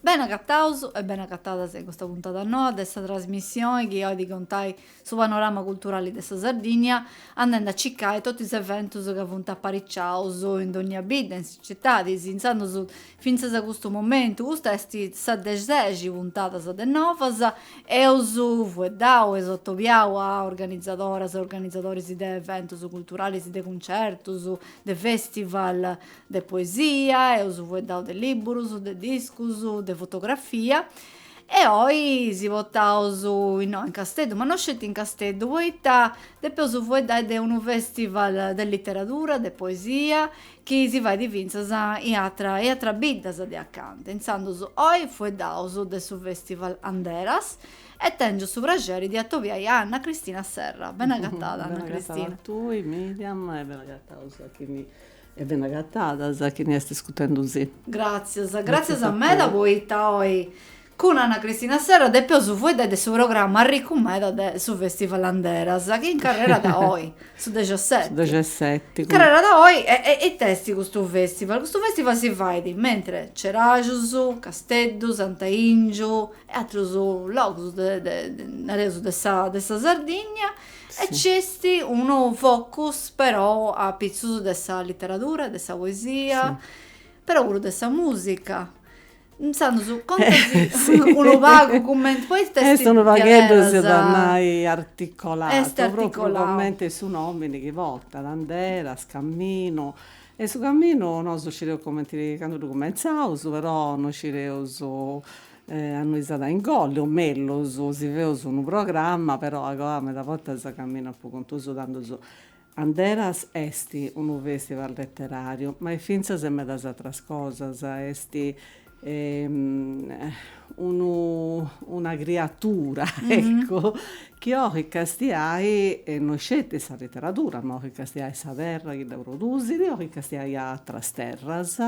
Bene agataus e bene agatadas in custa puntada noa de sa trasmissioni chi oit contai su panorama culturali de sa Sardìnnia andendi a cicai totu is eventus ca funt apariciaus in dònnia bidda, in is citadis, intzandus fintzas a custu momentu. Custa est sa de sexi puntadas de Novas. Eus fueddau eus atobiau a organizadoras e organizadoris de eventus culturalis, de cuncertus, de festival, de poesia, eus fueddau de libburus, de discus, de fotografia e oi si potaus innoi in Casteddu, ma no sceti in Casteddu, poita depeus fueddai de unu festival de literadura, de poesia, chi si fait fintzas in atera in ateras biddas de acanta, intzandus oi fueddaus de su festival Anderas e tengiu su praxeri de atobiai a Anna Cristina Serra, bene agatada Anna Cristina. Bene agatada a tui Miriam e bene agataus a chini E bene agatadas chini est iscutendu si. Gràtzias, gràtzias meda poita oi cun Anna Cristina Serra depeus fueddai de su programma arricu meda de su Festival Anderas chi incarrerat oi, su dexeseti. Su dexeseti. Incarrerat oi e e ita est custu festival? Custu festival si fait mentres Ceraxus, Casteddu, Sant'Aìngiu e atrus logus de de nareus de sa de sa Sardigna E nc'est unu focus però apitzus de sa literadura, de sa poesia, però puru de sa musica. Intzandus conta si unu pagu cumenti, poita est diaderus. Est unu pagheddu seus a nai articolatu. Est articolatu. Propriu cumenti su nomini chi portat, Anderas, caminu. E su caminu nosu scideus cumenti, candu ddu cumentzaus, però non scideus A innui s'at a ingolli, o mellus, si feus unu programma, però agoa meda bortas camminat po contu suu, tandus Anderas est unu festival letterariu, ma est fintzas e medas atras cosas, est unu una criatura, eccu, chi oit castiai no sceti sa litteradura, ma oit castiai sa terra chi dda produsit, oit castiai atras terras,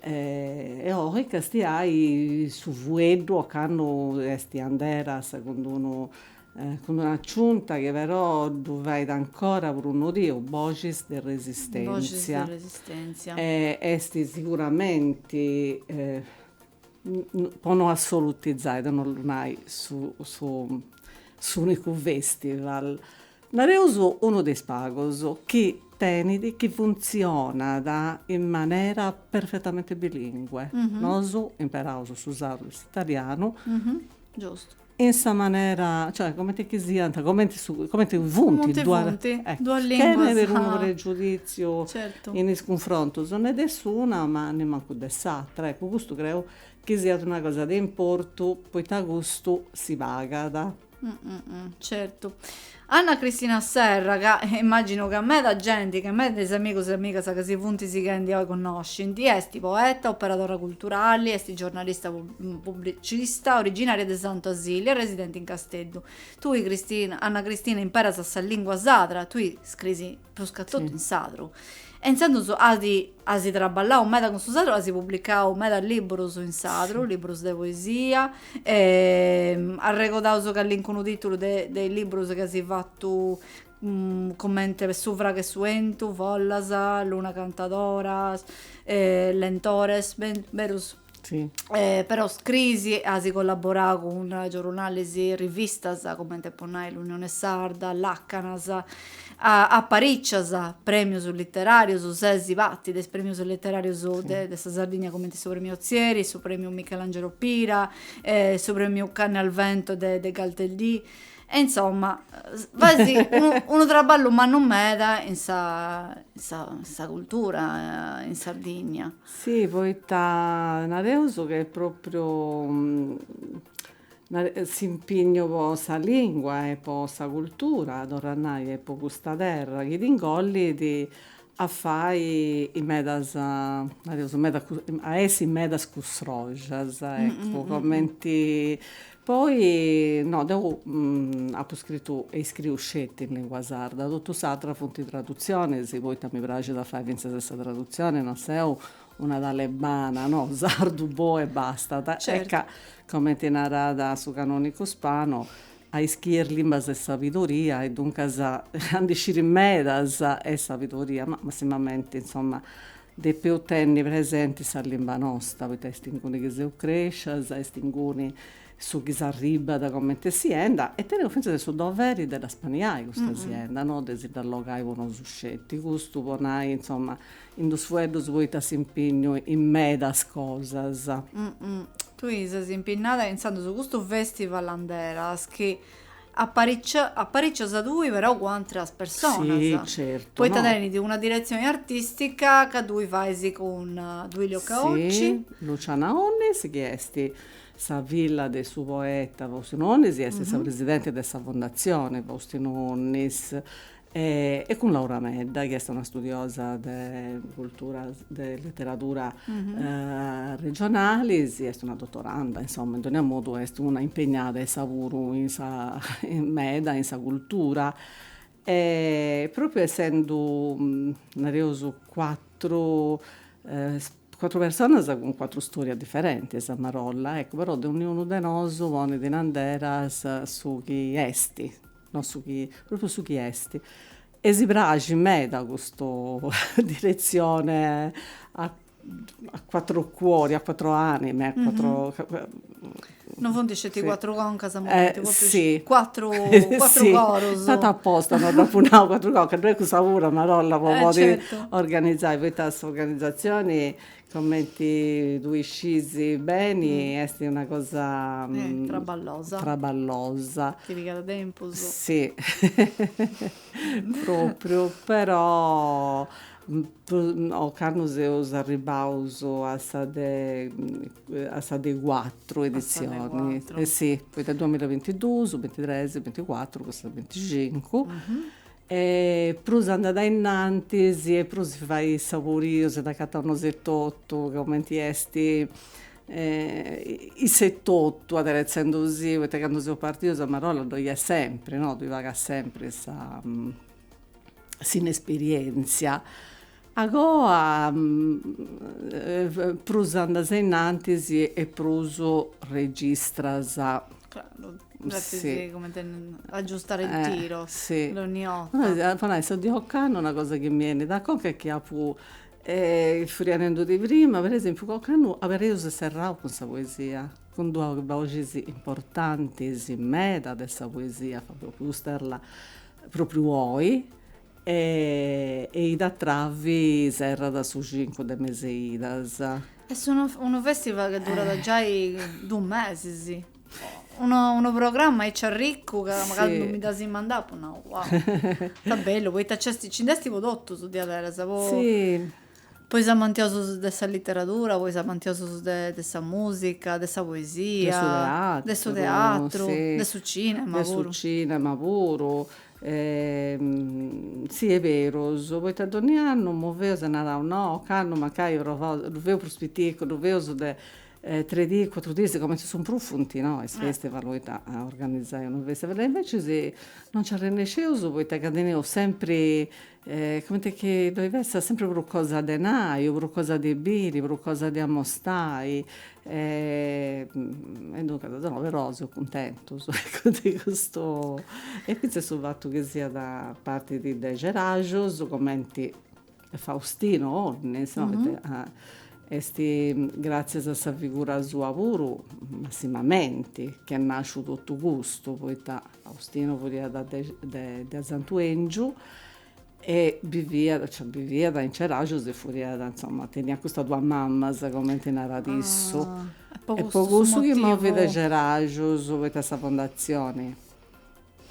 E oit castiai su fueddu. Ocannu esti Anderas cun d'unu cun d'una aciunta chi però ddu fait ancora prus nodiu, boxis de resistentzia. Esti siguramenti po no assolutizai, de no ollu nai su su s'unicu festival Nareus unu de is pagos chi tenit, chi funtzionat in manera perfetamente bilingue. Nosu imperaus su sardu e s'italianu. Giustu. In sa manera, cioè cumenti chi siant, cumenti co, cumenti funt duas linguas. Chene de unu pregiuditziu. Certu. In is cunfrontus, ne de s'una ma nemmancu de s'atra. Eccu, custu creu chi siat una cosa de importu, poita custu si pagat. Mm, mm, mm, certu. Anna Cristina Serra, ca eh, immagino ca meda genti, ca meda de is amigos e amigas ca si funt sighendi oi connoscint, est poeta, operadora culturali, est giornalista mm, pubblicista, originaria de Santu Asili e residenti in Casteddu. Tui Cristina, Anna Cristina, imperas sa lingua sadra, tui scris prus ca totu in sadru, e intzandus at as traballau meda cun su sadru, as publicau meda libburus in sadru, libburus de poesia, arregodaus callincunu titulu de de is libburus chi as fatu cumenti Su fragu e su 'entu, Follas, Luna cantadora, Lentores, berus Si. Però scrisi e asi collaborau cun giorunalis e rivistas comente po nai L'Unione Sarda, Lacanas, aparicias premius literarius, sesi pati de is premius literarius de sa Sardigna comente su Premiu Ozieri, su Premiu Michelangelo Pira, su Premiu Canne al Vento de Galteldì e insomma faisi unu traballu mannu meda in sa, in sa cultura in Sardigna. Si poita nareus ca est propriu s'impignu po sa lingua e po sa cultura, torru a nai, e po custa terra chi t'ingollit a fai medas, nareus, a essi medas custroxas, eccu, cumenti Poi, no, deu apu scritu e iscriu sceti in lìngua sarda, totu s'atru funt tradutzionis, poita mi praxit a fai fintzas e sa tradutzioni, non seu una talebana, no, sardu boh e bastat, ecco, comenti narat su canonicu Spano, a ischier limbas est sabidoria, e duncas a ndi sciri medas est sabidoria, ma massimamenti, insoma, Depeus tenni presenti sa limba nosta, poita est inguni chi seus crèscias, est inguni su chi s'arribbat comente sienda e teneus fintzas su doveri de dda spaniai custa sienda, no de si dda allogai po nosu sceti, custu po nai, insoma, in dus fueddus poita s'impignu in medas cosas. Tui ses impinnada intzandus custu festival Anderas chi Aparicias tui però cun atras personas, certo, poita tenit una diretzioni artistica ca tui fais cun Duilio Caocci. Luciana Onnis chi est sa filla de su poeta Faustinu Onnis est sa presidenti de sa Fondatzioni Faustinu Onnis e cun Laura Medda chi est una studiosa de cultura de literadura regionalis est una dotoranda insomma in dogna modu est una impegnada issa puru in sa meda in sa cultura e propriu essendu nareus cuatru cuatru personas cun cuatru storias differentis a marolla eccu però dogni unu de nosu ponit in andera su chi esti non su chi, propriu su chi est e si praxit meda custu diretzione a a quattro cuori a quattro anime a quattro non funt sceti cuatru concas si cuatru cuatru corus aposta no dd'apu nau cuatru concas ddoi est cussa puru a marolla po podi organizai poita s'organizatzioni Comenti tui scis beni esti una cosa traballosa traballosa. Chi pigada tempus. Si propriu però ocannu seus arribbaus a sa de a sa de cuatru edizioni si poita duamilla e bintiduus, bintitresi, binticuatru custa de binticincu E prus andat a innantis e prus si fait saboriu, si nd'acataus nosu etotu, comenti est issa etotu aderetzendu si, poita candu seus partius a marolla ddoi est sempri, no, tui pagas sempri sa, s'inesperienzia Agoa prus andas a innantis e prus registras. Claro, depis cumenti agiustare il tiro, dogniorta. Po nai, sa de ocannu, una cosa chi mi 'enit a conca est chi apu, furia nendudì prima, per esempiu, ca ocannu abereus e serraus cun sa poesia, cun duas boxis importantis meda de sa poesia, Fabio Pusterla, propriu oi, E Ida Travi serrat su cincu de meseidas. Est unu unu festival chi durat giai duus mesis. Unu unu programma aici arriccu ca candu mi dd'as mandau apu nau, wow, ita bellu, poita nci est nci nd'est po totus diaderus, po po is amantiosus de sa literadura, po is amantiosus de de sa musica, de sa poesia, de su teatru, de su cinema puru. Sì, est berus, poita donni' annu moveus e naraus no, ocannu mancai provaus, ddu feus prus piticu, ddu feus de tres dis, cuatru dis, cumenti su prus funt no is festival poita organizai unu festival e invecias non nci arrennesceus poita ca teneus sempri Comente chi ddoi fessat sempre prus cosa de nai o prus cosa de biri, prus cosa de amostai e duncas no, però seus cuntentus ecco de custu e finzas su fatu chi siat partiu de Ceraxus, cumenti Faustino Onnis no ite Est gràtzias a sa figura sua puru, massimamente, chi est nàsciu totu custu, poita Faustinu furiat de de Santu 'Èngiu e biviat, cioè biviat in Ceraxus e furiat, insoma, teniat custas duas mamas, comenti narat issu. Est po cussu chi movit de Ceraxus, poita sa fondatzioni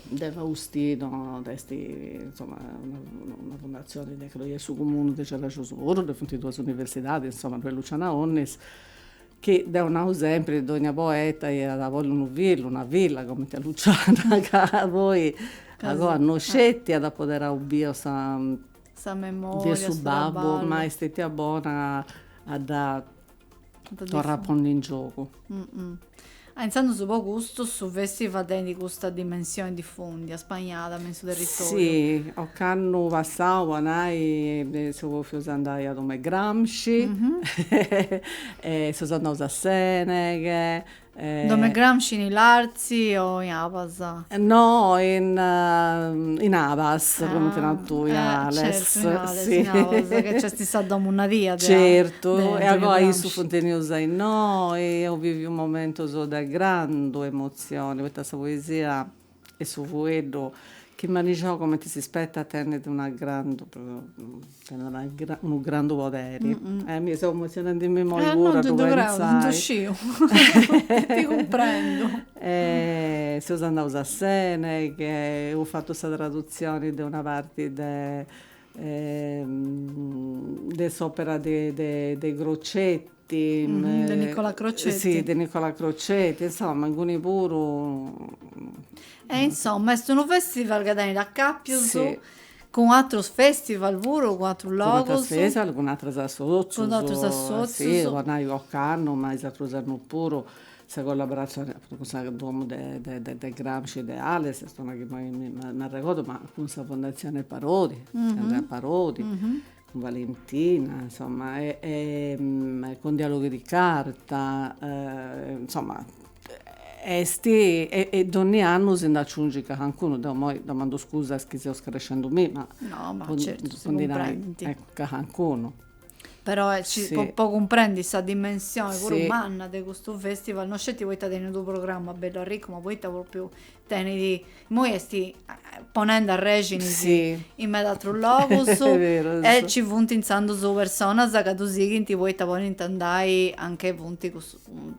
De Faustino est insoma una fundatzioni chi ddoi est su cumunu de Ceraxus puru ddoi funt duas universidadis insoma ddoi est Luciana Onnis chi deu nau sempri dogna poeta iat a bolli unu fillu una filla cumenti a Luciana ca poi agoa no sceti at apoderau biu sa sa memoria de su babbu ma est stetia bona a dda torrai a pondi in giogu. Mm -mm. Ah, intzandus po custu su festival tenit custa dimensioni difùndia, spaniada me in su territoriu. Si, ocannu passau po nai seus andaus a domu 'e Gramsci, e seus andaus a Seneghe In domo 'e Gramsci, in Ilartzi o in Abas? No, in in Abas, comenti nas tui, Ales. Certu, in Ales, in Abas, ca nc'est sa domu nadia de. Certu, e agoa issus funt benius a innoi, eus biviu momentus de grandu emotzioni, poita sa poesia Est su fueddu chi manixau comenti si spetat tenit una grandu tenit una grandu unu grandu poderi e mi seu emozionendimi immoi puru a ddu pentzai. Ddu sciu ti cumprendu. E seus andaus a Seneghe e eus fatu sa tradutzioni de una parti de s'opera de de Crocetti de Nicola Crocetti, si de Nicola Crocetti, insomma menguni puru e insomma est unu festival chi tenit acapius cun atrus festival puru cun atrus logus, cun atrus festival cun atrus associus, cun atrus associus, si po nai ocannu ma is atrus annus puru sa collaboratzioni cun sa domu de de de Gramsci de Ales est una chi imoi mi m'arregordu ma cun sa fondatzioni Parodi, Andrea Parodi Valentina insomma e cun dialoghi di carta insomma est e donni annu si nd'aciungit cacancunu deo moi domando scusa a is chi seu scarescendumì ma po ndi nai cacancunu però po cumprendi sa dimensioni puru manna de custu festival no sceti poita tenit unu programma bellu arricu ma poita propriu tenit Immoi est ponende arrèxinis in meda atrus logus e nci funt intzandus personas ca ddu sighint poita podint andai anche funt,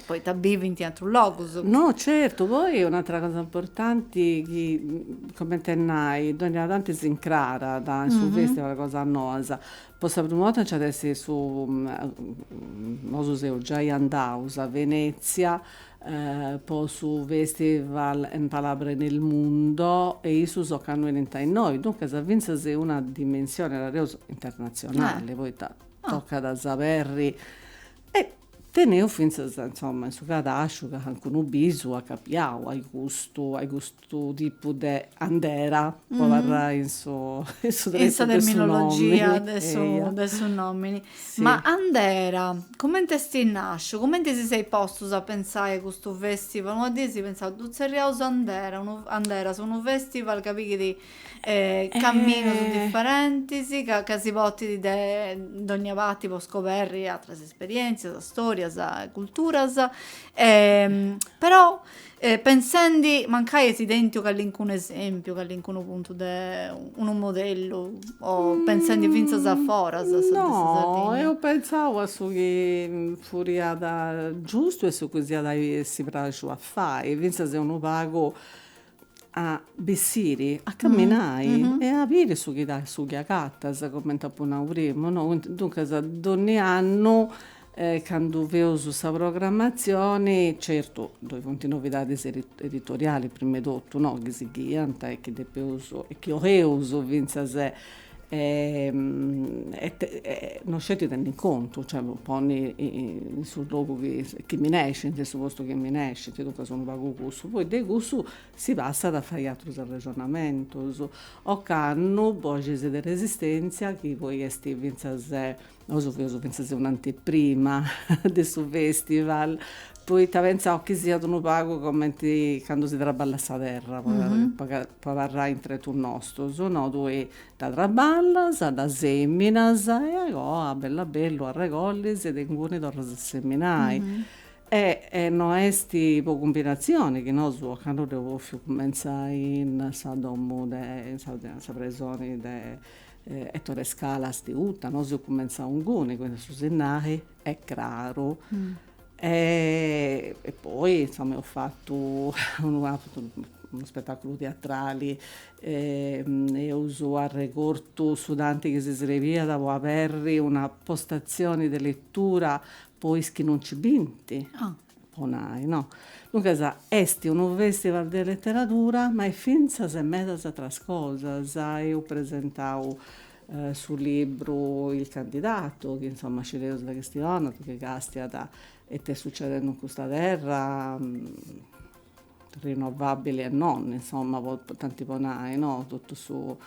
poita bivint in atrus logus. No certu, poi un'atra cosa importanti chi cumenti a nai donnia tanti s'incrarat a su festival cosas noas, Po sa primu 'orta nci at essi su, nosu seus giai andaus a Venezia po su Festival en palabra en el mundo e issus ocannu 'enint a innoi, duncas finzas in una dimensioni, nareus, internatzionali, poita tocat a s'aberri e teneus finzas, insoma, in su cadasciu cancunu bisu acapiau, ai custu, ai custu su tipu de andera, po abarrai in su in su tretu de su nomini. In sa terminologia de su de su nomini. Ma andera, cumenti est nasciu? Cumenti si seis postus a pentzai custu festival? Una dì eis pentzau, ddu tzerriaus andera, anderas, unu festival ca pighit caminus diferentis, ca si portit de dogna parti po scoberri atras esperientzias, storias, culturas però E pensendi, mancai eis tentu callincunu esèmpiu, callincunu puntu de unu modellu, o pensendi fintzas a foras de sa Sardigna? No, eus pentzau a su chi furiat giustu e su chi s'iat a essi praxu a fai, fintzas unu pagu a bessiri, a camminai e a biri su chi su chi agatas, cumenti apu nau primu, no, duncas donni annu Candu feus sa programmatzioni, certu ddoi funt novidadis editorialis prima 'e totu no, chi sighiant e chi depeus e chi 'oleus fintzas no sceti tenni in contu, cioè ponni in su logu chi minescint, in su postu chi minescint, duncas unu pagu cussu, poi de cussu si passat a fai atrus arrexonamentus ocannu boxis de resistentzia chi poi est fintzas Nosu feus fintzas un'anteprima de su festival, poita pentzàus chi siat unu pagu comenti candu si traballat sa terra, po po abarrai in tretus nostus, no tui dda traballas, dda seminas e agoa bellu a bellu arregollis e de inguni torras a seminai. E no est po cumbinazioni chi nosu ocannu dd'eus bòfiu cumenzai in sa domu de in sa presoni de Ettore Scalas de Uta, nosu eus cumentzau inguni, quindi su sinnali est craru. E poi insoma eus fatu unu unu spetaculu teatrali, eus arregortu su tanti chi si srebiat po aberri una postazioni de lettura po is chi non nci binti, po nai, no? Duncas, est unu festival de leteradura, ma est fintzas medas atras cosas, eus presentau su libru Il candidato, chi insoma si dd'eus a chistionai chi castiat ita est sucedendi in custa terra, rinnovabili e non, insoma, tanti po nai, no? Totu su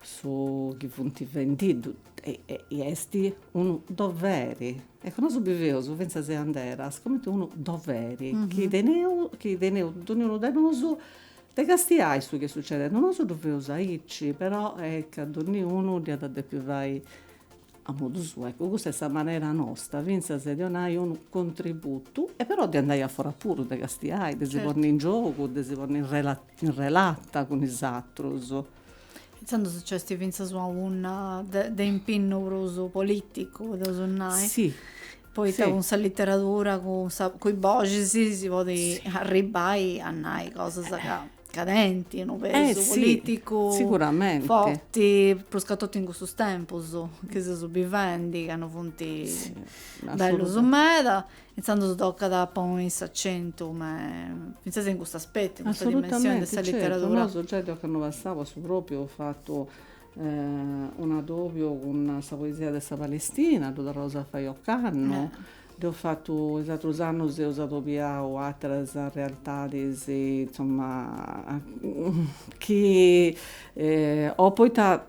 su chi funt fendi, ddoi est unu doveri Eccu, nosu biveus fintzas Anderas, comente unu doveri chi teneus, chi teneus donniunu de nosu, de castiai su chi est succedendi. Nosu ddu feus aici, però est ca donniunu dd'iat a depi fai a modu suu. Eccu, custa est sa manera nosta fintzas de donai unu contributu e però de andai a fora puru, de castiai, de si ponni in giogu, de si ponni in relata cun is atrus. Intzandus nc'est fintzas una punna de impinnu prus politicu, depeus nai. Si. Poita cun sa literadura, cun sa, cun is boxis si podit arribbai a nai cosas ca, ca tenint unu pesu politicu. Siguramente. Forti, pruscatotu in custus tempus chi seus bivendi, ca non funt bellus meda. Intzandus tocat a ponni s'acentu fintzas in custu aspetu, in custa dimensioni de sa literadura. Assolutamente, certu, nosu giai de ocannu passau su propriu eus fatu un adobiu cun sa poesia de sa Palestina, ddu torraus a fai ocannu, dd'eus fatu, is atrus annus eus adobiau ateras realtadis, insoma, chi, o poita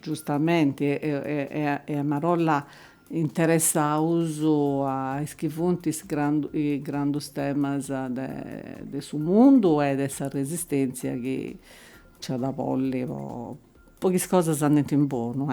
Giustamenti e a marolla interessaus a is chi funt is grandus temas de su mundu e de sa resistentzia chi nc'at a bolli po chi is cosas andint in bonu.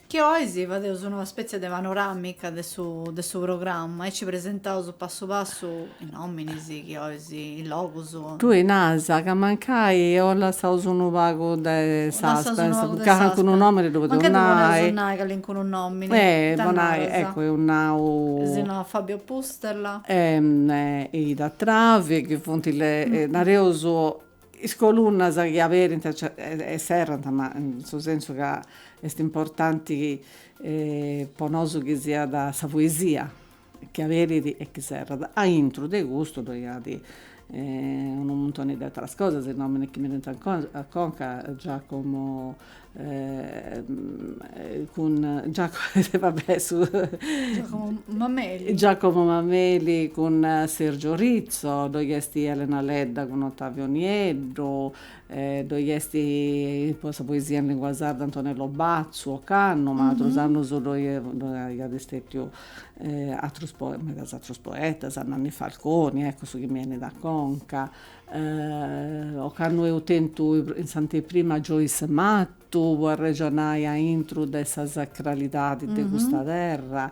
Chi 'olis fadeus una spètzia de panoràmica de su de su programma e nci presentaus passu passu is nòminis, chi 'olis, is logus. Tui naras ca mancai lassaus unu pagu de suspense, ca calincunu nòmini ddu podeus nai. Mancai ddu podeus nai calincunu nòmini. E po nai, eccu, eus nau. Eus nau Fabio Pusterla. E Ida Travi, chi funt, nareus, Is colunnas chi aberint e serrant, ma in su sensu ca est importanti po nosu chi siat sa poesia chi aberit e chi serrat. Aintru de custu ddoi at unu muntoni de ateras cosas, is nominis chi mi 'enint a conca, Giacomo cun Giacomo Mameli, cun Sergio Rizzo, ddoi est Elena Ledda cun Ottavio Nieddu, ddoi est po sa poesia in lingua sarda Antonello Bazzu, ocannu, ma atrus annus ddoi aiat istetiu atrus medas atrus poetas, Nanni Falconi, eccu su chi mi 'enit a conca ocannu eus tentu in s'anteprima Joyce Mattu po arrexonai a intru de sa sacralidadi de custa terra,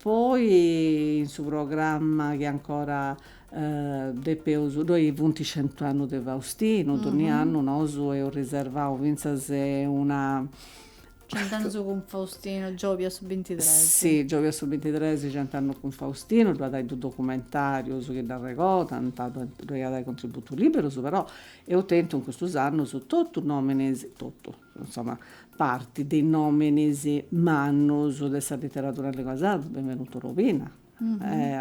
poi in su programma chi ancora depeus, ddoi funt centu annus de Faustinu, donnia annu nosu eus riservau fintzas una Cent'annus cun Faustinu, giòvia su bintitres. Si, giòvia su bintitres, cent'annus cun Faustinu, ddu at ai duus documentarius chi dd'arregodant, ddoi at ai contributus liberus, però eus tentu in custus annus totu nominis, totu, insoma, parti de is nominis mannus de sa literadura in lingua sarda, Benvenuto Lobina,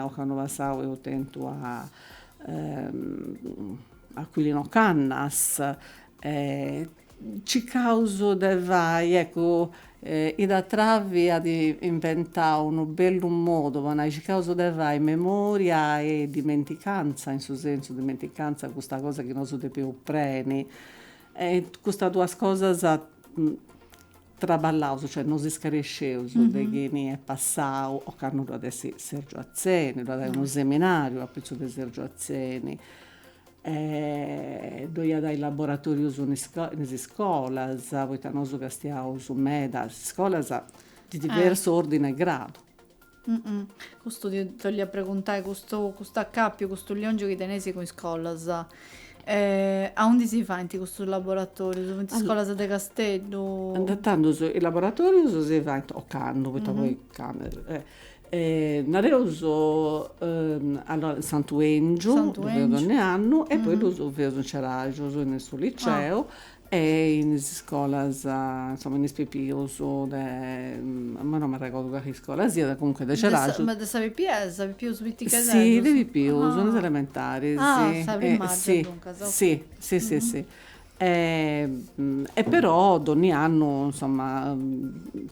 Ocannu passau eus tentu a Aquilino Cannas e circaus de fai, eccu, Ida Travi at inventau unu bellu modu po nai, circaus de fai memoria e dimenticanza, in su sensu dimenticanza de custa cosa chi nosu depeus preni e custas duas cosas traballaus, cioè no si scaresceus de chini est passau, ocannu ddu at essi Sergio Atzeni, ddu at ai unu seminariu apitzus de Sergio Atzeni, ddoi at ai laboratorius in in is iscolas, poita nosu castiaus meda is iscolas, de diversu ordini e gradu Custu ti 'olia preguntai, custu custu accapiu, custu liongiu chi teneis cun is iscolas, aundi si faint custus laboratorius? Funt iscolas de Casteddu? Tandus is laboratorius si faint ocannu, poita poi candu nareus allora in Santu 'Engiu ddu feus donni'annu e poi ddus feus in Ceraxus in su liceu E in is iscolas, insoma, in is pipius de, imoi non m'arregordu cali iscola siat, comunque de Ceraxus. Ma de is pipius piticheddus? Si, de pipius, in is elementaris. Ah, sa primària, duncas, ok. Si, si, si, si. E però donni annu, insoma,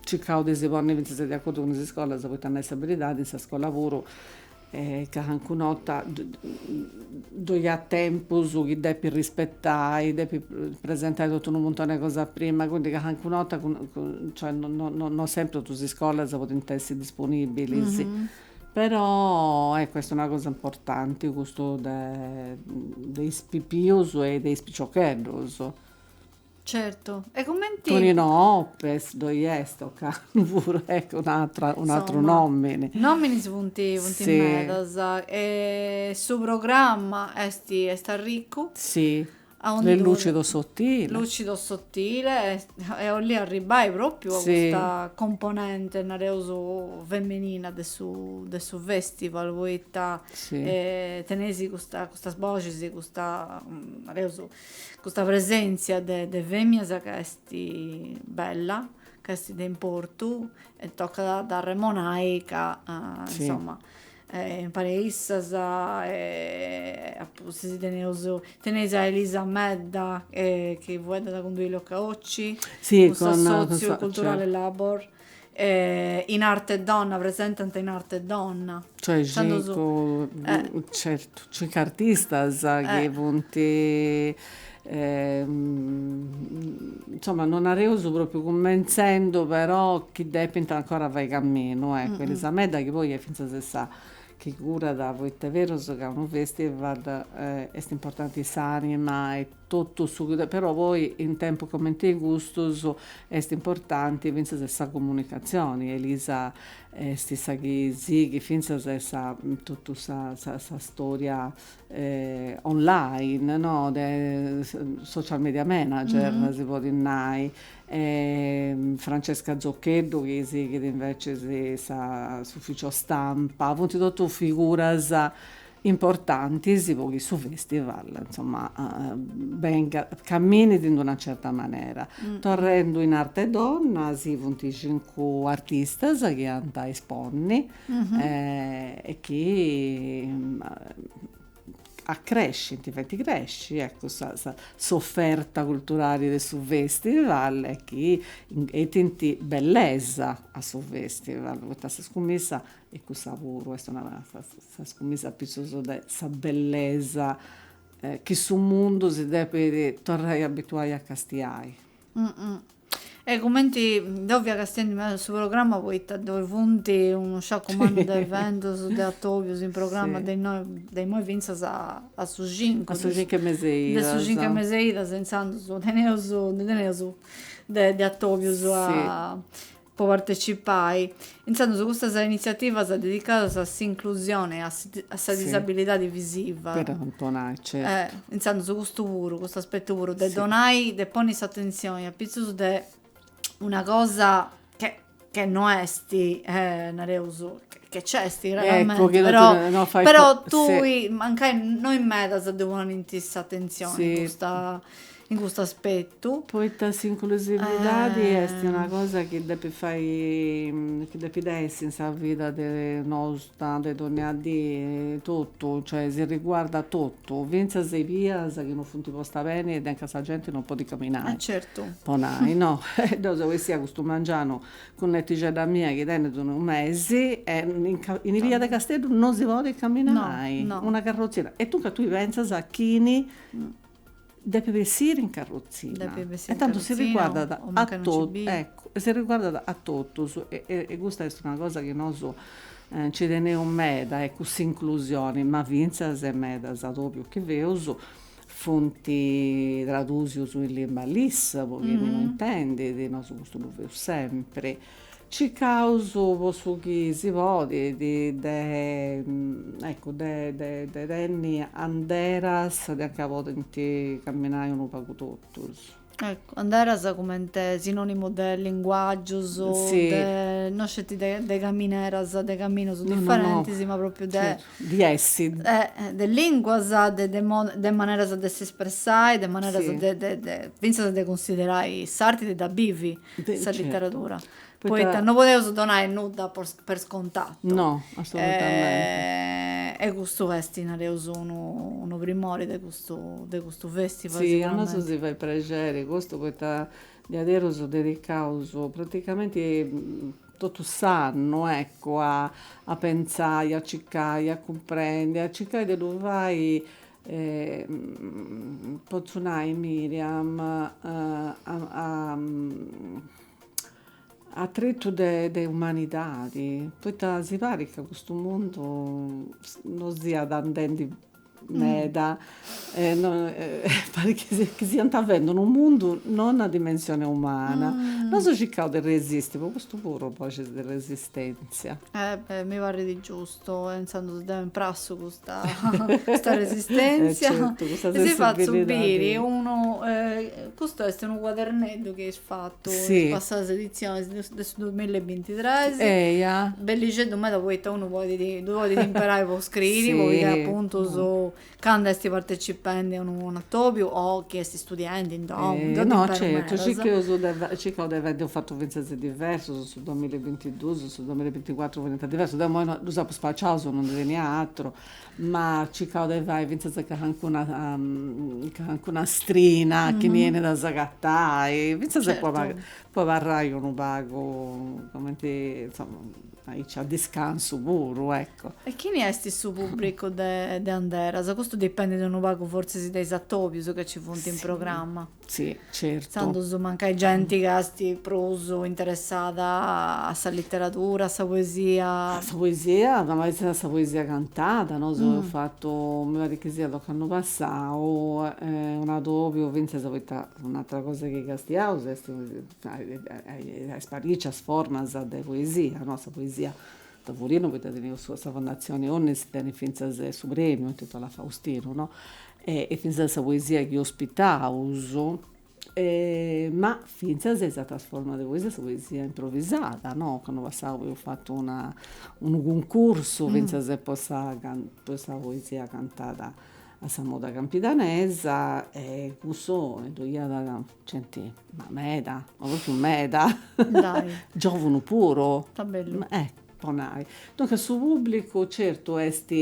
circaus de si ponni fintzas de acordu cun is iscolas, poita a nai sa beridadi, in sa scola puru E calincuna 'orta ddoi at tempus chi depit rispetai, depit presentai totu unu muntone 'e cosa prima, quindi calincuna 'orta cioè no sempri totu is iscolas podint essi disponibilis, però ecco est una cosa importanti custu de de is pipius e de is piciocheddus Certu, e cumenti. Tonino Oppes ddoi est, Occanu puru, eccu un'atra, un'atru nòmini. Nominis funt, funt medas. E su programma est, est arriccu. Sì, is Lucido Sottile. Lucido sottile, e 'olli arribbai propriu a custa componente, nareus, femenina de su, de su festival, poita teneis custas boxis, custa, nareus, Custa presèntzia de de fèmias ca est bella, ca est de importu e tocat a dd'arremonai ca insoma impari a issas apuntu sì teneus teneis a Elisa Medda chi fueddat cun Duilio Caocci, cun s'assòtziu culturale Labor E in arte donna, presentant In Arte Donna. Cioè certu, cincu artistas chi funt insoma non nareus propriu cumentzendu però chi depint ancora fai caminu ecco, Elisa Medda chi poi est finzas e sa chi curat, poita est berus ca unu festival est importanti s'anima e Totu su. Però poi in tempus comente e custus est importanti fintzas e sa comunicatzioni, Elisa est sa chi sighit fintzas e sa totu sa sa storia online no de social media manager si podit nai e Francesca Zoccheddu chi sighit invecias sa s'ufficio stampa, funt totus figuras importantis po chi su festival insomma bengat, caminit in una certa manera. Torrendu in Arte Donna sì funt cincu artistas chi ant a esponni e chi accrescint, faint crèsciri ecco sa sa s'offerta culturali de su festival e chi 'etint bellesa a su festival poita sa scumissa E cussa puru est una scumissa apitzus de sa bellesa chi su mundu si depit torrai abituai a castiai. E cumenti deu fia castiendu meda su programma poita ddoi funt unu sciacu mannu de eventus de atobius in programma de innoi de imoi fintzas a su cincu de su cincu 'e meseidas intzandus teneus ndi teneus de atobius po partecipai. Intzandus custas initziativas dedicadas a s'inclusione e a sa disabilidadi visiva. De Antonai, certu. Intzandus custu puru, custu aspettu puru de donai, de ponni s'atentzioni apitzus de una cosa che che no esti, nareus, che nc'esti realmenti, però però tui, mancai no in medas ddi ponint s'atentzioni custa in custu aspetu. Poita s'inclusividadi est una cosa chi depit fai chi depit essi in sa vida de nosu de dònnia dì totu, cioè si riguardat totu, fintzas is bias chi non funt postas beni e ancà sa genti non podit caminai, po nai, no. Deu seu essia custu mengianu cun netixedda mia chi tenit unu mesi e in is bias de Casteddu non si podit caminai, una carrotzina, e tui pentzas chini Depit bessiri in carrotzina. Depit bessiri in carrotzina o mancai non ci biu. Eccu, si riguardat a totus e custa est una cosa chi nosu nci teneus meda, eccu, s'inclusioni, ma fintzas e medas atòbius chi feus, funt tradusius in limba LIS po chini no intendit, nosu custu ddu feus sempri. Circaus po su chi si podit de eccu de de tenni anderas de anca podint camminai unu pagu totus. Eccu, anderas cumenti sinonimu de linguagius, de no sceti de de camineras, de caminus differentis, ma propriu de di essi, de linguas, de maneras de s'espressai, de maneras de de de finzas de cunsiderai s'arti de dda bivi. sa literadura, poita no podeus donai nudda per scontatu. No, assolutamenti. E custu est, nareus, unu primori de custu de custu festival. Si, a nosu si fait prexeri custu poita diaderus dedicaus praticamenti totu s'annu, eccu, a pentzai, a circai, a cumprendi, a circai de ddu fai potzu nai Miriam a tretu de umanidadi, poita si parit ca custu mundu no siat andendi meda e parit chi siant fendi unu mundu non a dimensioni umana. Nosu circaus de resisti, po custu puru boxis de resistenzia. E beh mi parrit giustu Seu pensendi si depu imprassai custa custa resistenzia e certu, custa e si fatzo biri unu custu est unu cuaderneddu chi eus fatu in is passadas editzionis de de su duamilla e bintitres, eia, bellixeddu meda poita unu podit ddu podit imperai po scriri po pigai apuntus Candu est partecipendi a unu atòbiu o chi est istudiendi insomma, de imperus medas. No, certu, circaus de fai, circaus de fai, nd'eus fatu fintzas diversus, su duamilla e bintiduus, su duamilla e binticuatru funt diversus, deu imoi ddus apu spaciaus, no ndi tenia aturu, ma circaus de fai fintzas cancuna, cancuna strina chi benit a s'agatai, fintzas po amparai unu pagu, cumenti, insoma Aici a discansu puru, ecco. E chini est su pùbricu de de Anderas? Custu dipendit unu pagu fortzis de is atòbius ca ci funt in programma. Si, certu. Intzandus mancai genti ca est prus interessada a sa literadura, a sa poesia. A sa poesia, a sa poesia cantada, nosu eus fatu, mi parit chi siat ocannu passau, un'atòbiu fintzas poita un'atera cosa chi castiaus est a is parìcias formas de poesia, no, sa poesia a tavulinu poita teneus su sa Fondatzioni Onnis tenit fintzas su premiu intitolau a Faustinu, no, e fintzas sa poesia chi ospitaus ma fintzas is ateras formas de poesia, sa poesia improvisada, no, ocannu passau eus fatu una unu cuncursu fintzas po sa po is sa poesia cantada a sa moda campidanesa e cussu ddu iat genti, ma meda, ma propriu meda. Dai. Giovunu puru. Ta bellu. Eh, po nai. Duncas su pubblicu certu est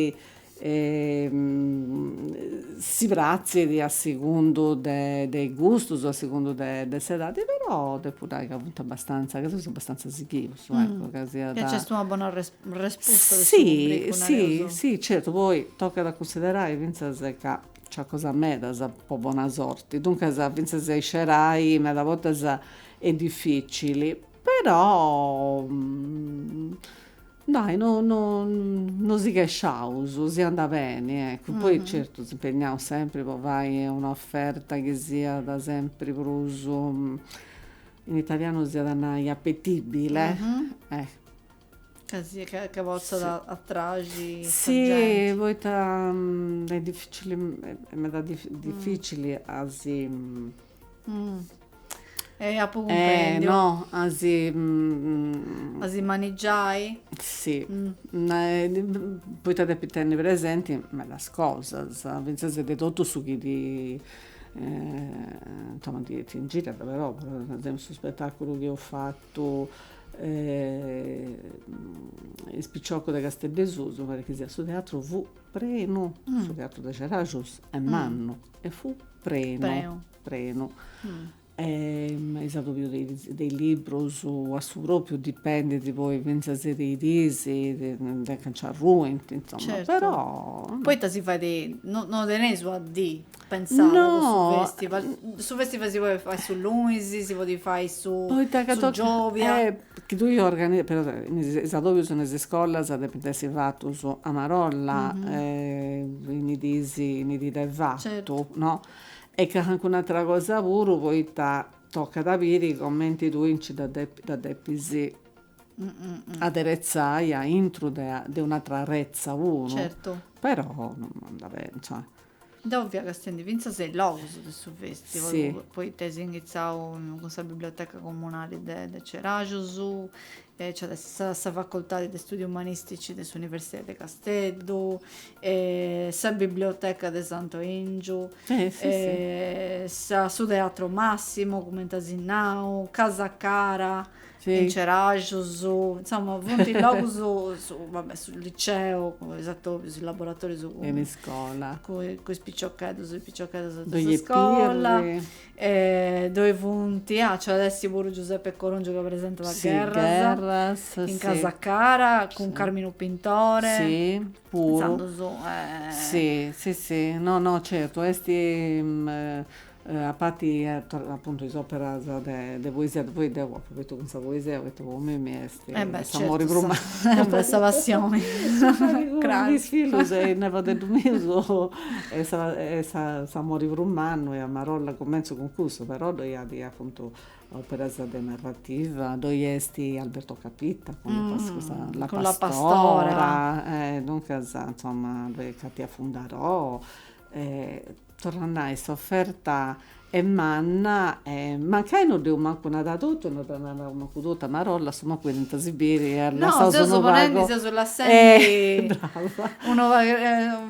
si pratzit a segundu de de is gustus, a segundu de de s'edadi, però depu nai ca funt abastanza, ca seus abastanza sighius, eccu, ca siat. E nc'est una bona resposta de su pubblicu, nareus. Si, si, si, certu, poi tocat a cunsiderai fintzas ca Nci at cosas medas po bona sorti, duncas fintzas a iscerai meda bortas est dificili, però dai no no no si chesciaus, si andat beni, eccu, poi certu s'impegnaus sempri po fai una offerta chi siat sempri prus, in italianu s'iat a nai, appetibile, Ca si, ca ca potzat atrai sa genti. Si, poita est dificili, est meda dificili a si. E apu cumprendiu. No, a si. A si manigiai. Si, poita depit tenni presenti medas cosas, finzas de totu su chi ti insoma ti ingiriat, però per esempiu, su spettaculu chi eus fatu Totu is piciocus de Casteddu 'e susu, parit chi siat su teatru fu prenu, su teatru de Ceraxus est mannu e fu prenu, prenu. is atòbius de is de is librus a su propriu dipendit poi finzas de is diis, de ca nci arruint, insoma, però. Poita si fait, no teneis una dì Pensada no, su festival, su festival si podit fai su lunis, si podit fai su, su giovia. Eh, chi tui organi, però is adobius in is iscolas depint essi fatus a marolla, in i dis, in i dì de fatu, no. E calincuna atera cosa puru poita tocat a biri cumenti tui nci dda depi, dda depis aderetzai aintru de un'atera arretza puru. Però non nd'at, insoma Deu fia castendi fintzas a is logus de su festival, poita est inghitzau cun sa biblioteca comunali de Ceraxus, nci at a essi sa facoltadi de studius umanistici de s'universidadi de Casteddu, sa biblioteca de Santu Ingiu, su teatru Massimo cumenti as nau, Casa Cara, in Ceraxus, insoma, funt logus, va bè, su liceu, is atobius, is laboratorius in iscola, cun is piciocheddus e is piciocheddas de sa iscola, ddoi funt, ah, nc'at a essi puru Giuseppe Corongiu ca presentat Gherras, in Casa Cara, cun Carminu Pintore, intzandus, si, si, si, no, no, certu, est A parti appuntu is operas de poesia, poi deu apu fatu cun sa poesia poita po mimi est s'amori prus mannu, sa passioni, su faghi cun is fillus e is nepodeddus mius est s'amori prus mannu e a marolla cumentzu cun cussu, però ddoi at appuntu operas de narrativa, ddoi est Alberto Capitta cun La pastora, duncas insoma ddoi est Katia Fundarò torru a nai s'oferta est manna e mancai no dd'eus mancu nada totu no dda naraus mancu totu a marolla su mancu iant si biri lassaus unu pagu no seus ponendi seus lassendi brava unu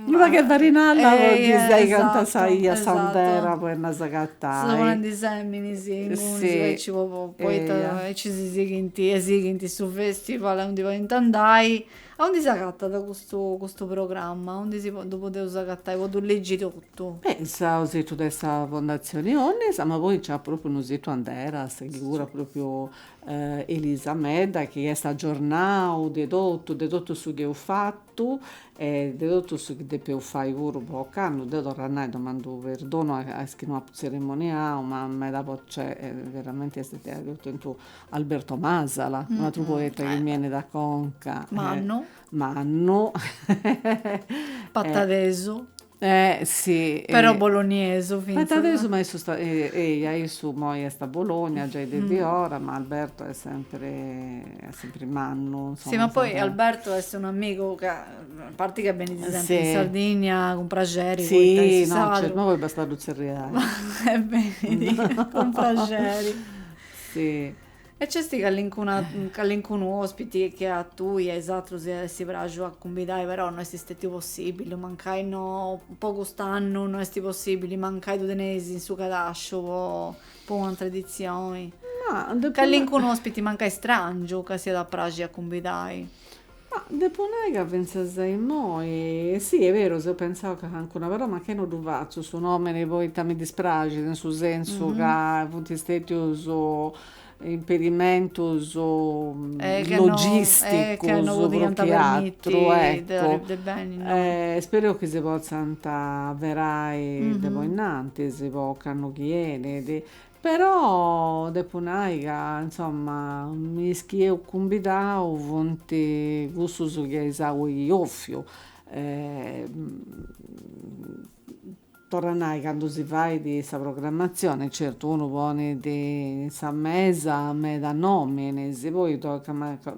unu pagu 'e farinalla po chi sigant sa ia s'andera po nos agatai seus ponendi seminis inguni aici po poita aici si sighint e sighint su festival aundi podint andai Aundi s'agatat custu custu programma? Aundi si ddu podeus agatai, po ddu legi totu? Beh, in su situ de sa Fondatzioni Onnis, ma poi nc'at pròpriu unu situ Anderas chi curat pròpriu Elisa Medda chi est agiornau de totu, de totu su chi eus fatu e de totu su chi depeus fai puru ocannu, deu torru a nai, domandu perdonu a is chi no apu tzerimoniau, ma meda po, cioè veramenti est diaici ottentu Alberto Masala, un atru poeta chi mi 'enit a conca. Mannu. Mannu. Patadesu. Eh si. Però boloniesu finzas. Patadesu ma issu sta eia issu moi est a Bologna giai de de ora, ma Alberto est sempri est sempri mannu, insoma. Si ma poi Alberto est un'amigu ca a parti ca benit sempri in Sardigna cun praxeri poita in su sardu. Si no no poi bastat a ddu tzerriai. E benit cun praxeri Si. E nc'est callincuna callincunu ospiti che a tui e a is atrus si iat essi praxu a cumbidai però no est stètiu possibili, mancai no po cust'annu no est possibili, mancai ddu teneis in su cadasciu po po un'atra editzioni. Ma depu na. Callincunu ospiti mancai strangiu chi si iat a praxi a cumbidai. Ma depo nai ca fintzas a immoi, si, est beru, seu pentzau ca cancuna, però mancai no ddu fatzu su nomini poita mi dispraxit, in su sensu ca funt stetius impedimentus logisticus prus chi atru, eccu. Spereu chi si potzant averai de po innantis po s'annu chi 'enit Però depu nai ca insomma is chi eus cumbidau funt cussus chi eus bofiu e torru a nai candu si fait sa programmatzioni certu unu ponit in sa mesa meda nominis poi tocat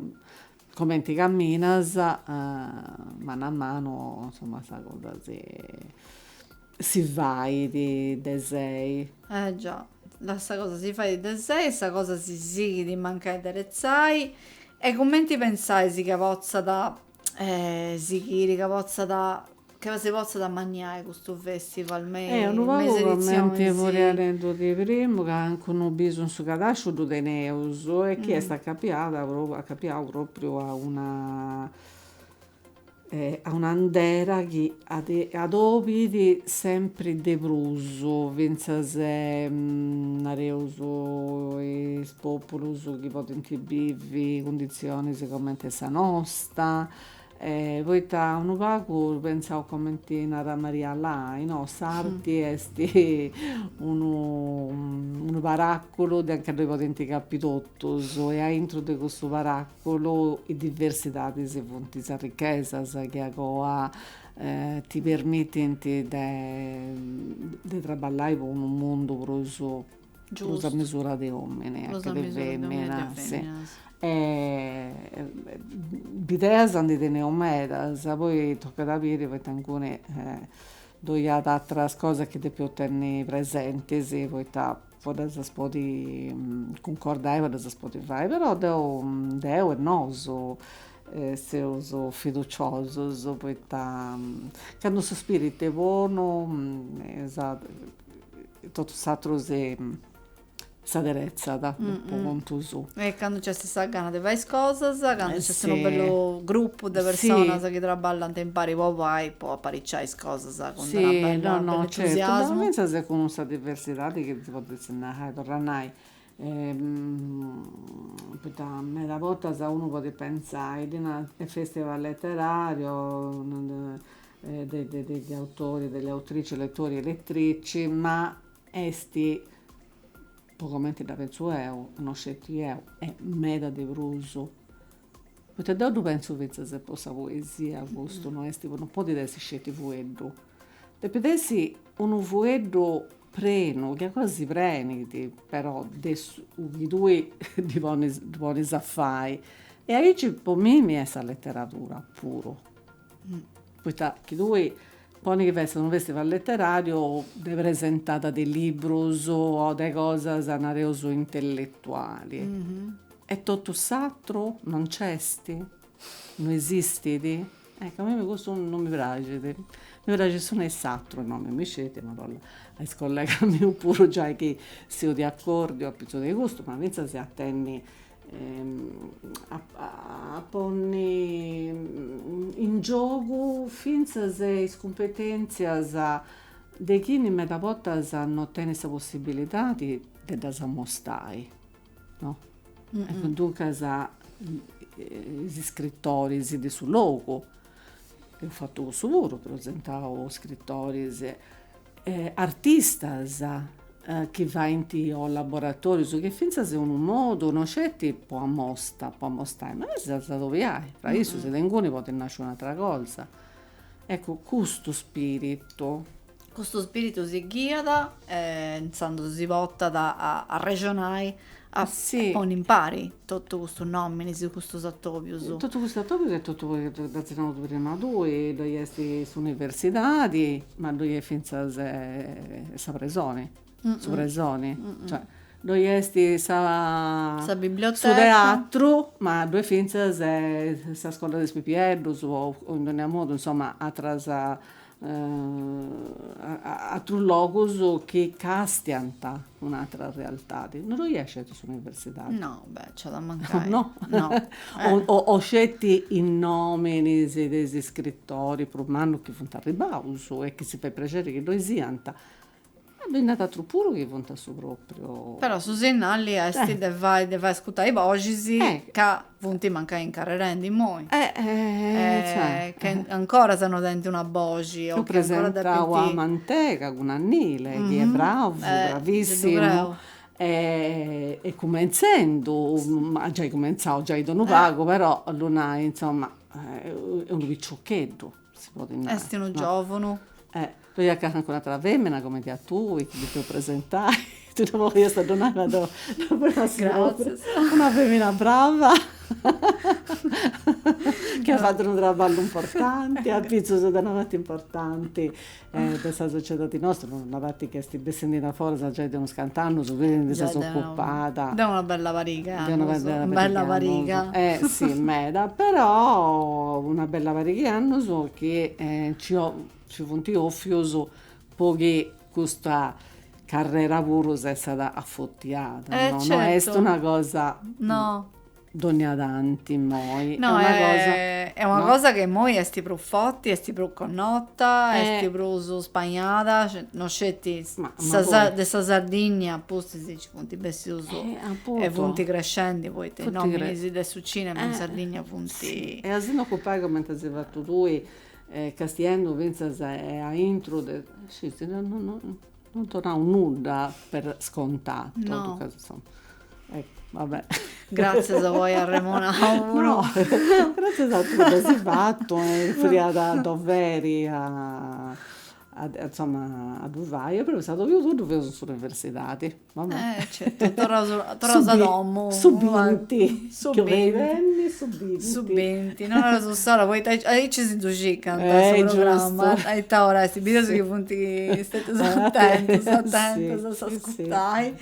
Comenti caminas, manu a manu, insoma, sa cosa si si fait de sei. Eh già, sa cosa si fait de sei e sa cosa si sighit mancai a deretzai e cumenti pensais ca potzat sighiri, ca potzat Che si potzat amanniai custu festival me is editzionis. Unu pagu cumenti fui narendu de primu calancunu bisu in su cadasciu ddu teneus e chi est acapiada acapiau propriu a una a un'àndera chi adòbit sempri de prus fintzas nareus is populus chi podint bivi cunditzionis cumenti e sa nosta E poita unu pagu pentzaus comenti narat Maria Lai no, s'arti est unu unu paràcua anca ddoi podint capi totus e aintru de cussu paràcua is diversidadis funt is arrichesas chi agoa ti permitint de de traballai po unu mundu prus prus a mesura de omine che de feminas de bideas ndi teneus medas poi tocchet a biri poita incuni ddoi at atteras cosas chi depeus tenni presentis poita po ddas as podi cuncordai po ddas as podi fai però deu deu e nosu seus fiduciosus poita candu su spiritu est bonu Totu s'atru s'aderetzat po contu suu. E candu nc'est sa gana de fai is cosas, candu nc'est unu bellu grupu de personas chi traballant impari po fai, po apariciai is cosas cun una bella, unu bellu entusiasmu. Fintzas cun sa diversidadi chi si podet nai, torru a nai Poita meda bortas unu podit pentzai ddi narant e festival letterario de de degli autori e delle autrici, lettori e lettrici, ma esti, po comenti dda pentzu eu, no sceti eu, e meda de prus Poita deu ddu pentzu fintzas po sa poesia custu, no est, no podit essi sceti fueddu, depit essi unu fueddu prenu, chi a cosa si prenit, però de su chi tui ddi ponis a fai e aici po mimi est sa letteradura puru, poita chi tui poni chi fessit unu festival letterariu de presentada de libbrus o de cosas nareus intellettuali E totu s'atru non nc'est? No esistit? Ecco, a mimi custu non mi praxit, mi praxit s'unu e s'atru, no a mimi sceti, ma boh, a is collegas mius puru giai chi seu de acordiu apitzus de custu, ma fintzas a tenni a ponni in giogu fintzas is cumpetentzias de chini meda bortas non tenit sa possibilidadi de ddas ammostai No? Eccu, duncas is iscritoris de su logu, eus fatu cussu puru, presentau iscritoris, artistas chi faint o laboratorius, chi fintzas est unu modu, no sceti po amosta, po amostai, ma est a s'adobiai, fra issus de inguni podit nasci un'atra cosa. Eccu, custu spiritu Custu spiritu si ghiat e intzandus si portat a arrexonai a ponni impari totu custus nominis, custus atobius. Totu custus atobius e totu, dd'as giai nau prima tui, ddoi est s'universidadi, ma ddoi est fintzas sa presoni, su presoni, cioè ddoi est sa sa biblioteca, su teatru, ma ddoi est fintzas sa scola de is pipieddus o in dogna modu insoma atras atrus logus chi castiant un'atra realtadi, no ddoi at sceti s'universidadi? No, beh, nci at a mancai. No? No. O sceti is nominis de is iscritoris prus mannus chi funt arribbaus e chi si fait prexeri chi ddoi siant. Ma ddoi nd'at atru puru chi funt a su pròpriu. Però su sinnali est de fai de fai ascutai boxis ca funt mancai incarrerendi immoi. Ca ancora sa no tenint una boxi. Dd'eus presentau a Mantega cun Annile chi est bravu, bravissimu e cumentzendu, at giai cumentzau giai de unu pagu, però ddu nai, insoma, est unu piciocheddu. si podit nai. Est unu giòvunu. Eh, ddoi at cancun'atra femina comenti a tui, chi depiu presentai, tui no boliast a ddu nai, ma deu deu fui una signora, una femina brava, chi at fatu unu traballu importanti, apitzus de una parti importanti, de sa sociedadi nostra, una parti chi est bessindi in aforas giai de unus cant'annus, ti ndi ses ocupada. Giai de una bella pariga annus. De una bella pariga. Bella pariga. Eh si meda, però una bella pariga 'e annus chi nci nci funt ofius po chi custa carrera puru s'essat afortiada. Eh certu. No est una cosa. No Dònnia tanti immoi, è una cosa. Est una cosa chi immoi est prus forti, est prus connota, est prus spagnada, non sceti de sa Sardinnia apustis nci funt bessius e funt crescendi poita is nominis de su cinema in Sardinnia funt. E a si nd'ocupai cumenti as fatu tui, castiendu fintzas a intru de. No donau nudda per scontatu. No. Totu casi insomma. Eccu, va bene. Gratzias po ai arremonau puru. No, gratzias a tui chi dd'as fatu e fiat doveri a a insomma a ddu fai e però s'atòbiu ddu feus in s'universidadi. Va bene. Eh certu, torraus torraus a domu. Su binti. Su binti, su binti. Su binti, no naraus s'ora, poita aici si ddu circant su programma, a ita ora est, bideus chi funt stetius atentus, atentus a s'ascurtai,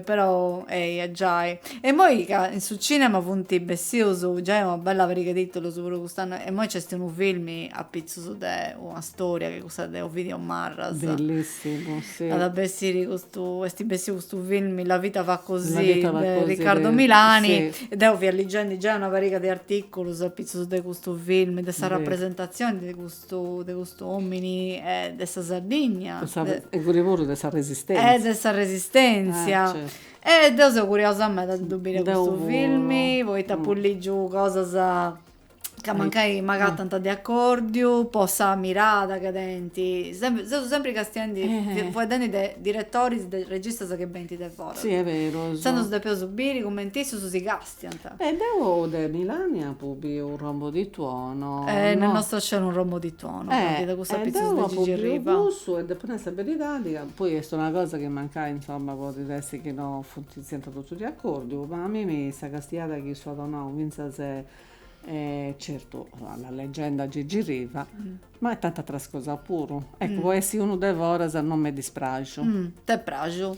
però eia giai. E imoi ca in su cinema funt bessius giai una bella pariga 'e titulus puru cust'annu, e imoi nc'est unu filmi apitzus de una storia, chi est custa de Ovidio Marras, At a bessiri custu, est bessiu custu filmi La vita va così de Riccardo Milani, deu fia ligendi giai una pariga de articulus apitzus de custu filmi, de sa rapresentazioni de custu, de custu omini e de sa Sardigna, e puru puru de sa Resistenzia, e de sa Resistenzia, e deu seu curiosa meda de ddu biri custu filmi, poita apu ligiu cosas ca mancai m'agatant de acòrdiu po sa mirada chi tenint, seus sempri castiendi, fueddendi de diretoris, de registas chi benint de foras. Si est beru. Intzandus depeus biri cumenti issus si castiant. E deu de Milani apu biu un rombo di tuono. Nel nostro cielo un rombo di tuono, fatu de custu apitzus de Gigi Riva. E deu apu biu cussu e depu nai sa beridadi ca poi est una cosa chi mancai, insomma, podit essi chi no funt Siant totus de acordu, ma a mimi sa castiada chi issu at donau fintzas certu a la legenda Gigi Riva, ma tanti ateras cosas puru, eccu po essi unu de foras non m'est dispraxu. T'est praxu?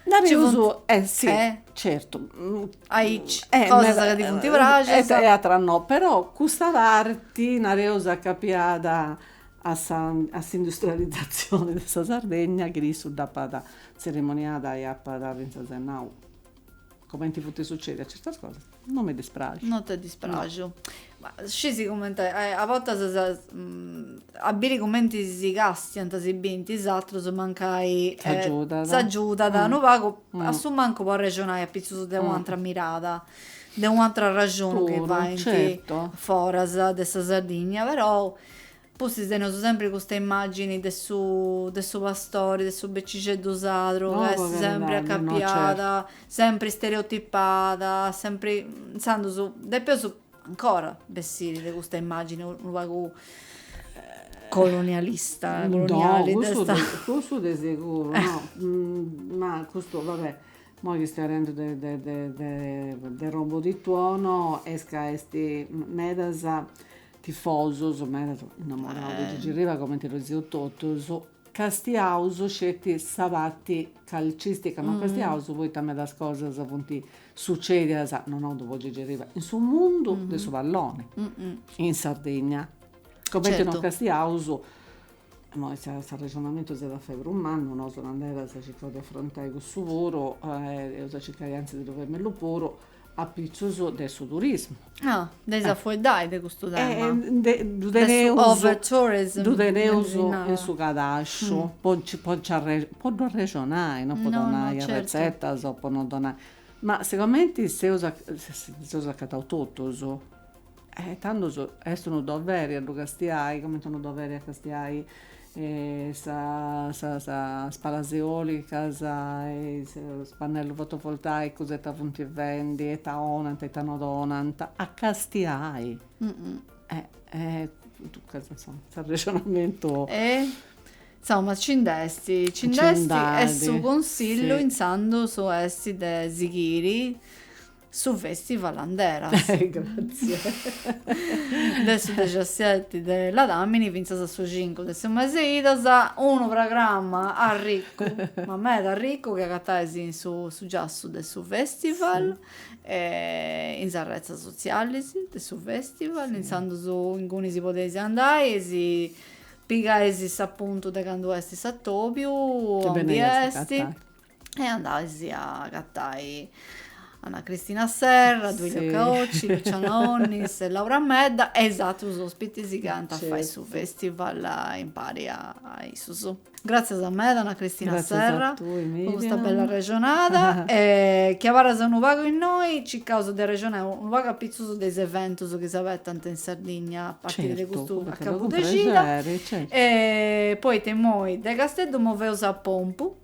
Nareus eh si, certu, aici cosas ca ti funt praxias e ateras no, però custa parti nareus acapiada a sa industrializzazioni de sa Sardegna chi issu dd'apat Tzerimoniada e apat fintzas nau, Comenti funt sucedias certas cosas, no m'est dispraxu. No t'est dispraxu. Ma scisi cumenti a bortas a biri cumenti si castiant si binti is atrus mancai s'agiudat unu pagu a su mancu po arrexonai apitzus de u' antra mirada, de u' antra arrexoni chi faint foras de sa Sardigna, però Pustis teneus sempri custa immàgini de su de su pastori, de su becixeddu sadru, ca est sempri acapiada, sempri istereotipada, sempri, intzandus, depeus ancora bessiri de custa immàgini unu pagu colonialista, coloniali, de sa. No, cussu cussu de seguru, no, ma custu, va bè, imoi chistionendu de de de de de Rombo di tuono est ca est medas Tifosos, medas innamorados de Gigi Riva comente ddu seus totus, castiaus sceti sa parti calcistica, no castiaus poita medas cosas funt sucedias, no nau po Gigi Riva, in su mundu de su palloni, in Sardigna, comente no castiaus, imoi s'arrexonamentu s'at a fai prus mannu, nosu nanderas circaus de afrontai cussu puru, eus a circai antzis de ddu fai mellus puru, apitzus de su turismu. Ah, eis a fueddai de custu tema. Ddu teneus, ddu teneus in su cadasciu, po nci po nci po ddu arrexonai, no po donai arretzetas o po no donai, ma seguramenti si seus acataus totus E tandus est unu doveri a ddu castiai, comente unu doveri a castiai sas palas eòlicas e sos pannellus fotovoltaicus ita funt fendi, ita 'onant, ita no donant, a castiai. Duncas insoma, s'arrexonamentu. E insoma nci nd'est, nci nd'est e su consillu intzandus est de sighiri su festival Anderas de su dexiaseti de Ladamini fintzas a su cincu de su mese 'e idas, unu programma arricu, ma meda arricu, chi agatais in su giassu de su festival e in sas retzas sotziales de su festival, intzandus inguni si podeis andai e si pigais s'appuntu de candu est s'atobiu, aundi est e andais a agatai Anna Cristina Serra, Duilio Caocci, Luciana Onnis e Laura Medda e is atrus ospitis chi ant a fai su festival impari a issus. Gratzias meda Anna Cristina Serra po custa bella arrexonada e chi abarras unu pagu innoi circaus de arrexonai unu pagu apitzus de is eventus chi s'abetant in Sardigna a partiri de custu acabu de xida e poita imoi de Casteddu moveus a Pompu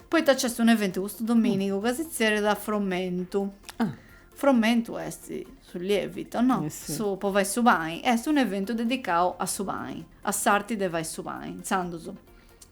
Poita nc'est un'eventu custu domìnigu ca si tzerriat Fromentu. Ah. Fromentu est su lievito, no? Eh sì. Su, po fai su pani. Est un'eventu dedicau a su pani, a s'arti de fai su pani. Intzandus,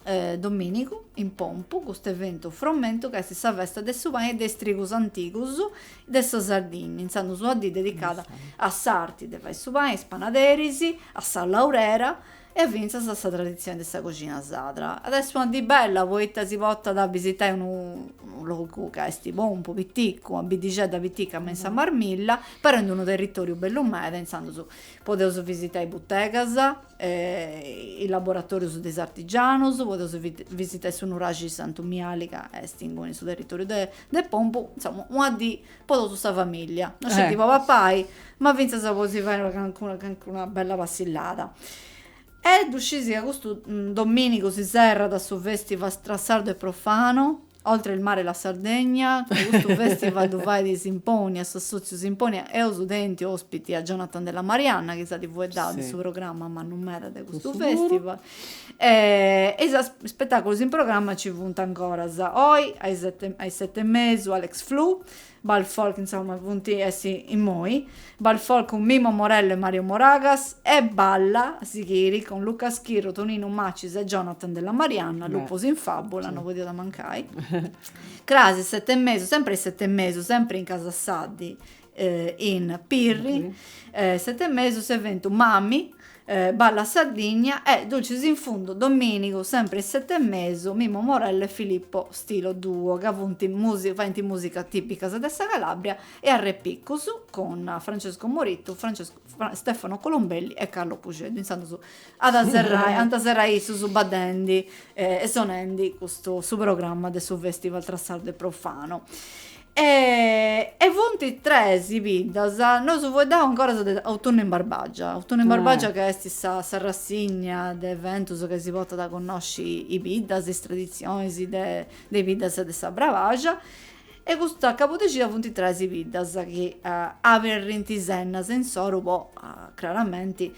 eh, domìnigu, in Pompu, custu eventu fromentu ca est sa festa de su pani e de is trigus antigus de sa Sardinnia. Intzandus una dì dedicada a s'arti de fai su pani, a is panaderis, a sa laurera e fintzas a sa traditzione de sa coxina sadra. At a essi una dì bella poita si potat a bisitai unu logu ca est Pompu, piticu, una biddixedda pitica me in sa Marmilla, però in unu territòriu bellu meda, intzandus podeus bisitai butegas, is laboratòrius de is artigianus, podeus bisitai su nuraxi Santu Miali ca est inguni in su territòriu de Pompu, insoma una dì po totu sa famìllia, no sceti po papai, ma fintzas po si fai cancuna cancuna bella passillada. E ddu scis ca custu domìnigu si serrat su fèstival Tra sardo e profano, oltre il mare e la Sardegna, ca custu fèstival ddu fait Symponia, s'assòtziu Symponia, eus tentu òspiti a Jonathan Della Marianna chi s'at fueddau de su programma mannu meda de custu fèstival, e is spetàculos in programma nci funt ancoras, oi a is sete e mesu Alex Flu, Bal Folk, insoma funt essi immoi, Bal Folk cun Mimmo Morello e Mario Moragas e Balla a sighiri cun Luca Schirru, Tonino Macis e Jonathan Della Marianna, Lupus in Fabula, no podiat mancai, cras is sete e mesu, sempri a is sete e mesu, sempri in Casa Saddi, in Pirri, sete e mesu s'eventu Mami, Balla Sardigna e Dulcis in Fundu Dominigu sempre is sete e mesu, Mimmo Morello e Filippo Stilo Duo ca funt faint musica tipicas de sa Calabria e Arrepicus cun Francesco Morittu, Stefano Colombelli e Carlo Pusceddu. Intzandus ant a serrai issus baddendi e sonendi custu su programma de su festival Tra Sardo e Profano. E e funt tres biddas, nosu fueddaus ancora de Autunnu in Barbagia, Autunnu in Barbagia ca est sa s'arrassigna de eventus ca si portat a connosci is biddas, is traditzionis de is biddas de sa Brabaxa e custa cabudexida funt tres i biddas chi aberrint is ennas insoru po craramenti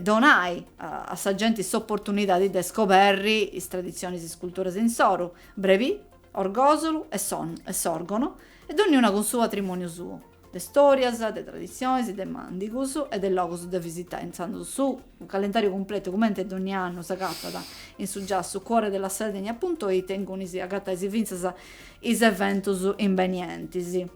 donai a sa genti s'oportunidadi de scoberri is traditzionis is culturas insoru, Brevi Orgòsolu e Sòrgono, e donniuna cun su patrimòniu suo, de stòrias, de traditzionis, de màndigus e de logus de visitai. Intzandus su calendàriu cumpletu, cumenti donni annu, s'agatat in su giassu Cuore della Sardegna punto it e inguni si agatais fintzas is eventus imbenientis.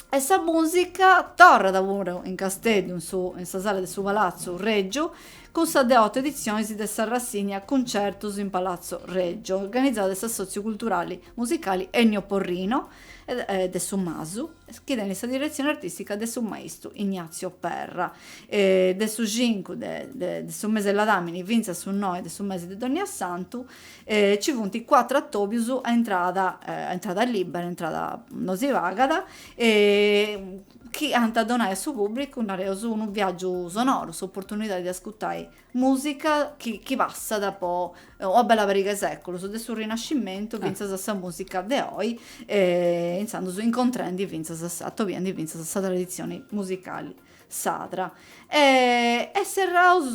e sa musica torrat puru in Casteddu in sa sala de su Palazzu Reggiu cun sa dexioto edizionis de sa rassigna Cuncertus in Palazzo Reggio organizada de s'Assotziu Culturali Musicali Ennio Porrino de su Masu chi tenit sa diretzioni artistica de su maistu Ignazio Perra de su cincu de su mese 'e Ladamini fintzas su noe de su mese de Dogna Santu e ci funt cuatru atobius a intrada a intrada libera a intrada no si pagat e chi ant a donai a su pubblicu nareus unu viaggiu sonoru s'opportunidadi de ascurtai musica chi chi passat po una bella pariga 'e seculus de su rinascimmentu finzas a sa musica de oi e intzandus incontrendi finzas atobiendi finzas sa tradizioni musicali sarda. E serraus,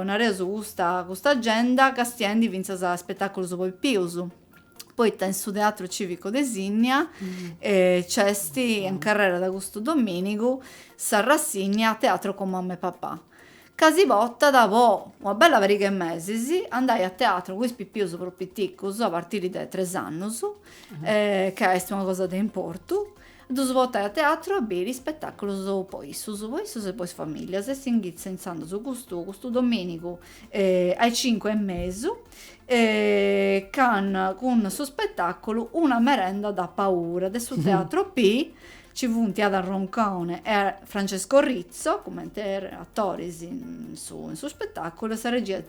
nareus, custa custa agenda castiendi fintzas a ispetàculus po is pipius, poita in su Teatru Cìvicu de Sinnia nc'est in carrera de custu domìnigu s'arrassigna Teatro con mamma e papà, ca si portat po una bella pariga 'e mesis andai a teatru cun is pipius prus piticus, a partiri de tres annus, ca est una cosa de importu Ddus potai a teatru a biri ispetàculus po issus, po issus e po is famìllias e s'inghitzat intzandus custu custu domìnigu a is cincu e mesu can cun su spetàculu Una merenda da paura de su Teatro P. Nci funt Ada Roncone e Francesco Rizzo cumenti atoris in su in su spetàculu e sa regia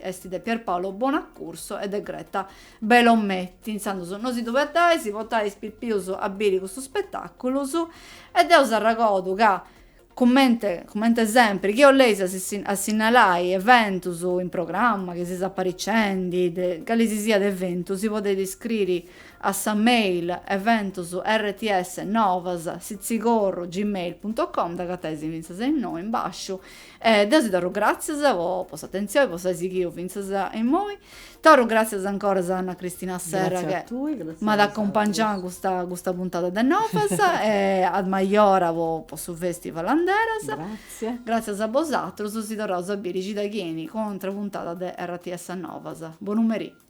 est de Pierpaolo Bonaccurso e de Greta Belometti, intzandus no si ddu perdai, si potais is pipius a biri custus spetaculus, e deu s'arragodu ca cumenti cumenti sempri chi 'oleis a sinnalai eventus in programma chi seis apariciendi, de cali si siat eventu si podeit iscriri a sa mail eventus rts novas sitzigorru gmail punto com, dd'agatais fintzas innoi in basciu, E deu si torru gràtzias po s'atentzioni, po s'ai sighiu fintzas a immoi. Torru gràtzias ancoras a Anna Cristina Serra che m'at acompangiau in custa custa puntada de Novas e a Majora po po su festival Anderas. Gràtzias a bosatrus, si torraus a biri cida chi 'eni cun un'atra puntada de RTS Novas. Bonu merì.